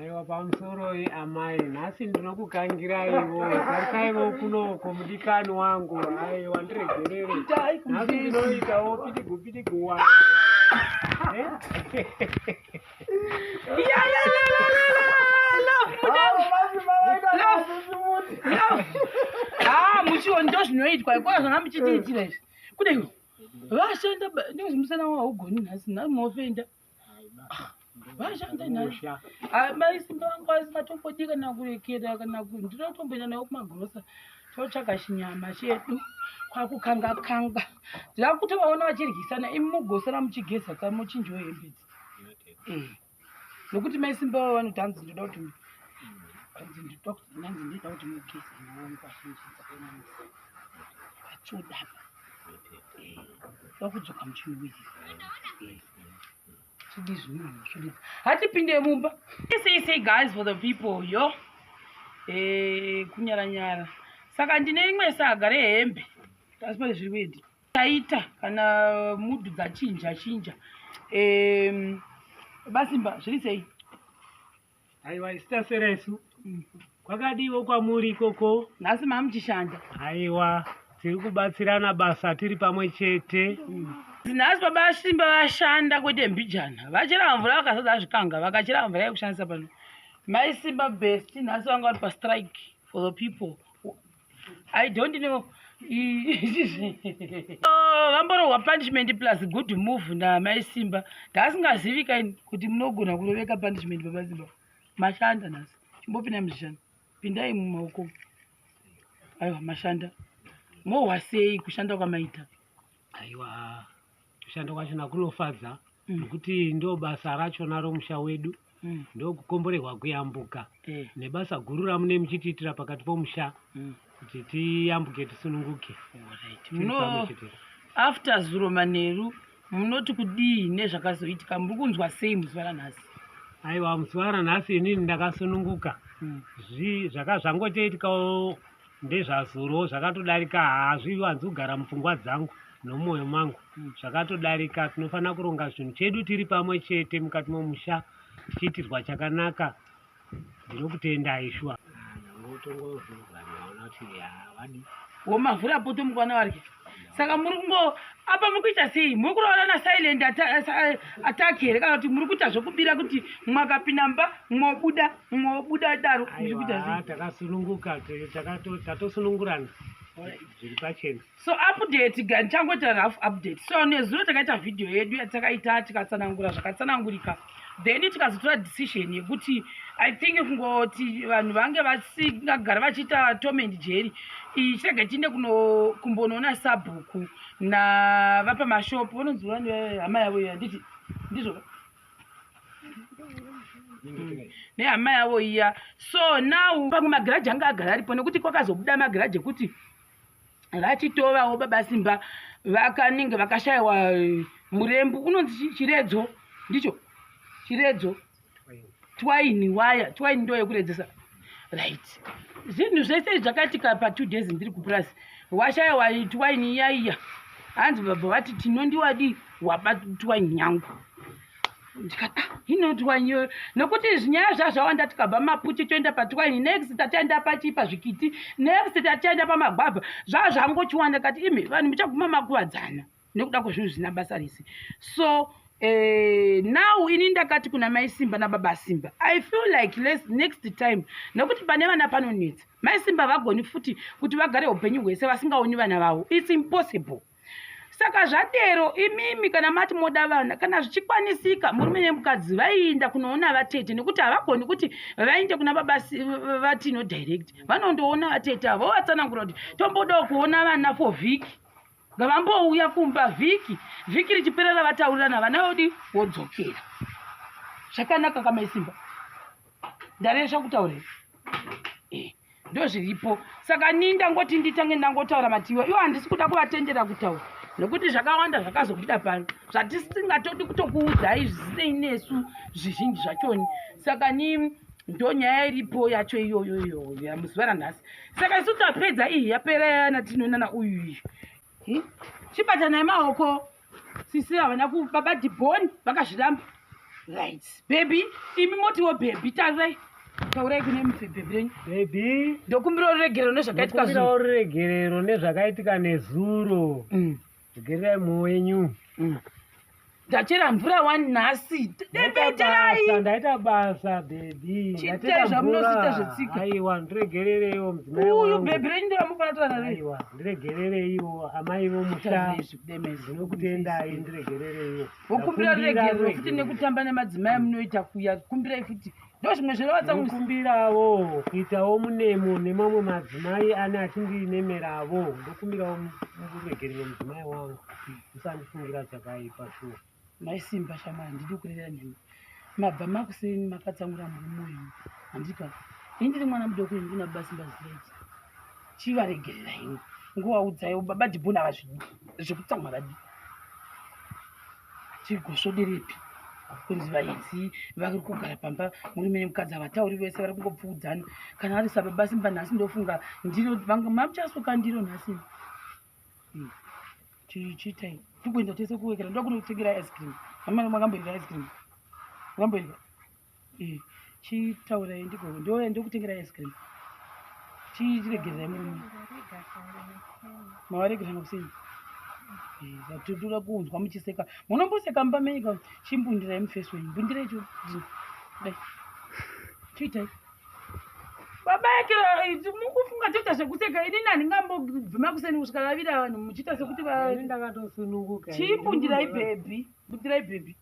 Aiwa pamusoroi amai nhasi ndinokukangiraiwo tarikaivo kunoko mudikani wangu aiwa ndiregerere nhasi ndinoitawo pidigu pidigu wa muchiwo ndo zvinoitwa ikona zvanga muchitiitira izvi kudai vashanda ndozvimusana waugoni nhasi nhamuofenda no vashanda nhasha amai simba vangu vasingatombodi kana kurekera kana ndinotomboenda nayo kumagrosa totsvaga chinyama chedu kwakukanga kanga ndirakutovaona vachiryisana imi mugosana muchigeza ka muchinjiwo hembe dzi eh. nokuti mai simba vavo vanoti hanzi ndoda kuti hanzi ndoda kuti nanzi ndoda kuti mugeze nawangu vachinjizaaamisa vachodapa vakudzoka muchinowizi hatipinde mumba say say guys for the people yo eh, kunyara nyara saka ndine rimwe saga rehembe asi pane zviri kuenda taita kana mudhu dzachinja chinja basimba zviri sei Aiwa isitasera isu. Kwakadiwo kwamuri ikoko. Nhasi mamuchishanda. Aiwa tiri kubatsirana basa tiri pamwe chete. Nhasi baba Simba vashanda kwete mbijana. Vachera mvura vakazadza zvikanga vakachera mvura yekushandisa pano. Mai Simba best nhasi vanga vari pa strike for the people. i don't know oh, vamborohwa punishment plus good move namai simba ndaasingazivi kaini kuti munogona kuroveka punishment baba simba mashanda nhasi chimbopinda muzvishanda pindai mumaoko aiwa mashanda mohwa sei kushanda kwamaita aiwa kushanda kwachona kunofadza Mm. nokuti ndo basa rachona romusha wedu Mm. ndokukomborerwa kuyambuka Eh. nebasa guru ramune muchitiitira pakati pomusha Mm. kuti tiyambuke tisununguke Alright. Tiri Muno pamwe chete. after zuro manheru munoti kudii nezvakazoitika muri kunzwa sei muzuva ranhasi aiwa musi waranhasi inini ndakasununguka Mm. Zvi- zvaka zvangotoitikawo ndezvazorowo zvakatodarika hazviwanzi kugara mupfungwa dzangu nomoyo mangu hmm. zvakatodarika tinofanira kuronga zvinhu chedu tiri pamwe chete mukati momusha tichiitirwa chakanaka ndinokutendai shuwa ah, womavhura poto mukwana variki saka muri kungo apa muri kuita sei muri kuroora na silent attack here kana kuti muri kuita zvekubira kuti mwakapinda mba mwobuda mwobuda daro muri kuita sei takasununguka tatosunungurana zviri pachena so update tichangoita rough update so nezuro takaita vhidhiyo yedu yatakaita tikatsanangura zvakatsanangurika then tikazotora decision yekuti i think kungoti vanhu vange vasingagara vachiita tom and jerry ichirega tiinde kumbonoona sabhuku navapa mashopu vanonzi vani hama yavo iyo handiti ndizvo nehama yavo iya so now pamwe magiraji anga agara aripo nekuti kwakazobuda magiraji ekuti vachitovawo baba simba vakanenge vakashayiwa eh, murembu unonzi chiredzo ndicho chiredzo twaini waya twaini ndo yekuredzesa right zvinhu zvese zvakaitika patwo days ndiri kupurazi washayiwa twaini iyaiya hanzi baba vati tinondiwadii wabatwaini yangu ndikati ah, inotwa nyoyo nokuti zvinyaya zvazvawanda tikabva maputi toenda patwaini next tatienda pachii pazvikiti next tatienda pamagwabha zvaa zvangochiwanda kati imi vanhu muchaguma makuvadzana nekuda kwezvinhu zvina basa rese so Eh, now ini ndakati kuna mai simba nababa simba i feel like les, next time nekuti pane vana panonetsa mai simba vagoni futi kuti vagare upenyu hwese vasingaoni vana vavo its impossible saka zvadero imimi kana mati moda vana kana zvichikwanisika murume nemukadzi vaienda kunoona vatete nekuti havagoni kuti vainde kuna baba vatino direct vanondoona vatete avo vatsanangura kuti tombodawo kuona vana for vhiki ngavambouya kumba vhiki vhiki richiperera vataurirana vana vodi vodzokera zvakanaka kamaisimba ndaresva kutaurira eh. ndozviripo saka nii ndangoti nditange ndangotaura matiwa iwo handisi kuda kuvatendera kutaura nokuti zvakawanda zvakazobuda pano zvatisingatodi kutokuudzai zvisinei nesu zvizhinji zvachoni saka ni ndo nyaya iripo yacho iyoyo iyoyo muzuva ranhasi saka isu tapedza iyi yapera yana tinoonana uyu iyi chibatanai maoko sisi havana ku baba diboni vakazviramba right bhebhi imi motiwo bhebhi tarirai taurai kune mubhebhi renyu bhebhi ndokumbirawo ruregerero nezvakaitika zuro ruregerero nezvakaitika nezuro mm. regererai mwoyo wenyu mm. ndachera mvura wani nhasi debeterai ndaita basa bhebhi chiitai zvamunoziita zvetsika aiwa ndiregerereiwo mudzimai uyu bhebhi renyu ndoramufanatoranaiwa ndiregerereiwo amai vomusha ndinokutendai ndiregerereiwo vokumbira ruregerero futi nekutamba nemadzimai munoita kuya kumbirai futi ndo zvimwe zvinovatsakumbirawo kuitawo munemo nemamwe madzimai ane achindinemeravo ndokumbirawo muregerero mudzimai wangu musandifungira chakaipa shuwa Mai Simba shamwari handidi kurevera nemi. Mabva makuseni makatsamura murume wenyu. Handipa. Ini ndiri mwana mudoko ini kuna baba Simba zvireji. Chivaregerera ini. Ngowaudzai baba Dibona vazvidi. Zvekutsamwa vadi. Chigosvoderepi? kunzi vaidzi vari kugara pamba murume nemukadzi havatauri vese vari kungopfuudzana kana ari sababa simba nhasi ndofunga ndiro vanga mamuchasuka ndiro nhasi chichitai tikuenda tese kuwekera ndoda kunotengera ice cream amana makamboenda ice cream makamboenda eh, chitaurai ndiko ndoya ndokutengera ice cream chiregererai murume mavaregerana kusini eh, titoda kunzwa muchiseka munomboseka mumba menyika chimbundirai mufesi wenyu mbundirai cho chiitai baba yake eh, mukufunga toita zvekuseka ini nani ngambobvima kuseni kusvika vavira vanhu muchiita sekuti ndakatosununguka chii bundirai bhebhi bundirai bhebhi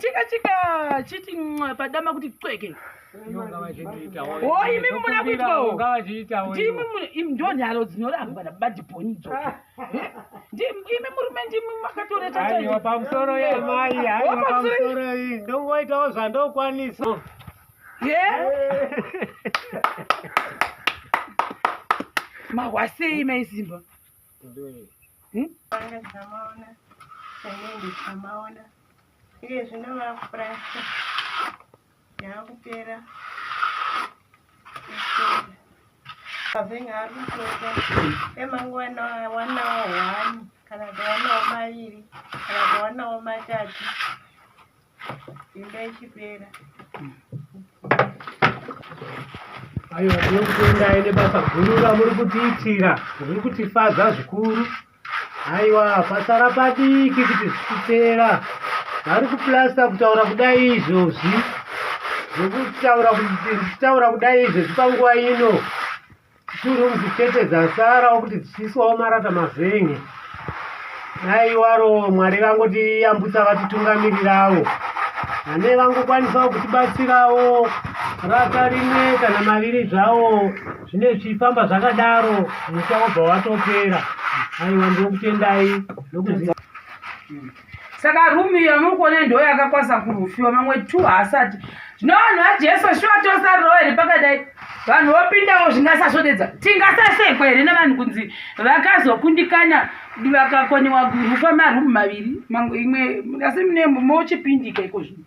chika chika chiti padama kuti cweke yeah. imi muna kuitwawo ndimi ndo nharo dzinorambwa nabadibhoni dzo imi murume ndimi makatoretaiwa pamusoro yamai aiwa pamusoro iyi ndongoitawo zvandokwanisa ye mahwasei maisimba hmm? Thank you. yakupera kavhenga arikutoka emangwana wanawo hwani kana tawanawo maviri kana tawanawo matatu imba ichipera aiwa tinokutendai nebasa guru ramuri kutiitira zviri kutifadza zvikuru Aiwa, pasara padiki kuti zvikupera. Vari kuplasta kutaura kudai izvozvi. Zvekutaura kutaura kudai izvozvi panguva ino. Two rooms chete dzasarawo kuti dzichiiswawo marata mavhenye. Aiwaro Mwari vangotiyambutsa vatitungamirirawo. Vane vangokwanisawo kutibatsirawo rata rimwe kana maviri zvawo. zvine zvichifamba zvakadaro musha wobva watopera aiwa ndokutendai nokuziva saka rumi iyo muri kuona ndo yakakwasa kurufiwa mamwe two haasati zvino vanhu vajesu shuwa tosarirawo here pakadai vanhu vopindawo zvingasasvodedza tingasasekwa here nevanhu kunzi vakazokundikanya vakakoniwa rufa marumu maviri imwe asi mune mochipindika iko zvino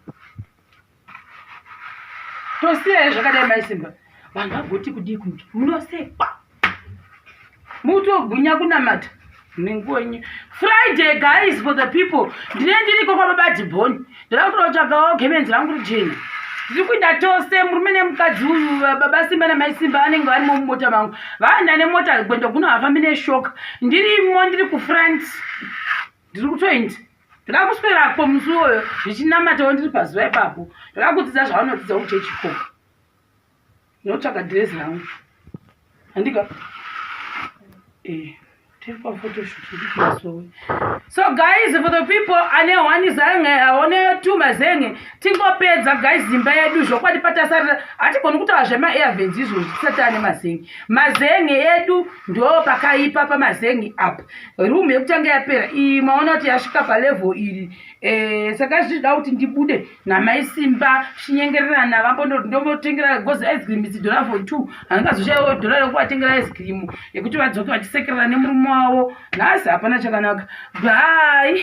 tosiyai zvakadai mai simba vanhu vagoti kudii kunge munosekwa mutogwinya kunamata nengonye friday guys for the people ndine ndiriko kwababa diboni ndira kutoda kutsvagawo gemenzi rangu rijena ndiri kuita tose murume nemukadzi uyu baba simba namai simba vanenge varimo mumota mangu vaenda nemota gwendo kuno hafambi neshoka ndirimo ndiri kufront ndiri kutoindi ndakakuswerapo musi iwoyo zvichinamatawo ndiri pazuva ipapo ndakakudzidza zvaunodzidza kuchechi ko ndinotsvaga dhirezi rangu handika eh, tiri pafotoshut ndikumasowe so guys for the people ane one zange aone two mazenge tingopedza guys imba yedu zvokwadi patasarira hatigoni kutaura zvemaairvens izvozvo tisati ane mazenge mazenge edu ndo pakaipa pamazenge apa room yekutanga yapera iyi maona kuti yasvika palevel iri eh, saka zvichida kuti ndibude namai simba chinyengererana vambondoti ndomotengera gozi ice cream idzi dollar for two handingazoshaiwa dollar rekuvatengera ice cream yekuti vadzoke vachisekerera nemurume wavo nhasi hapana chakanaka bye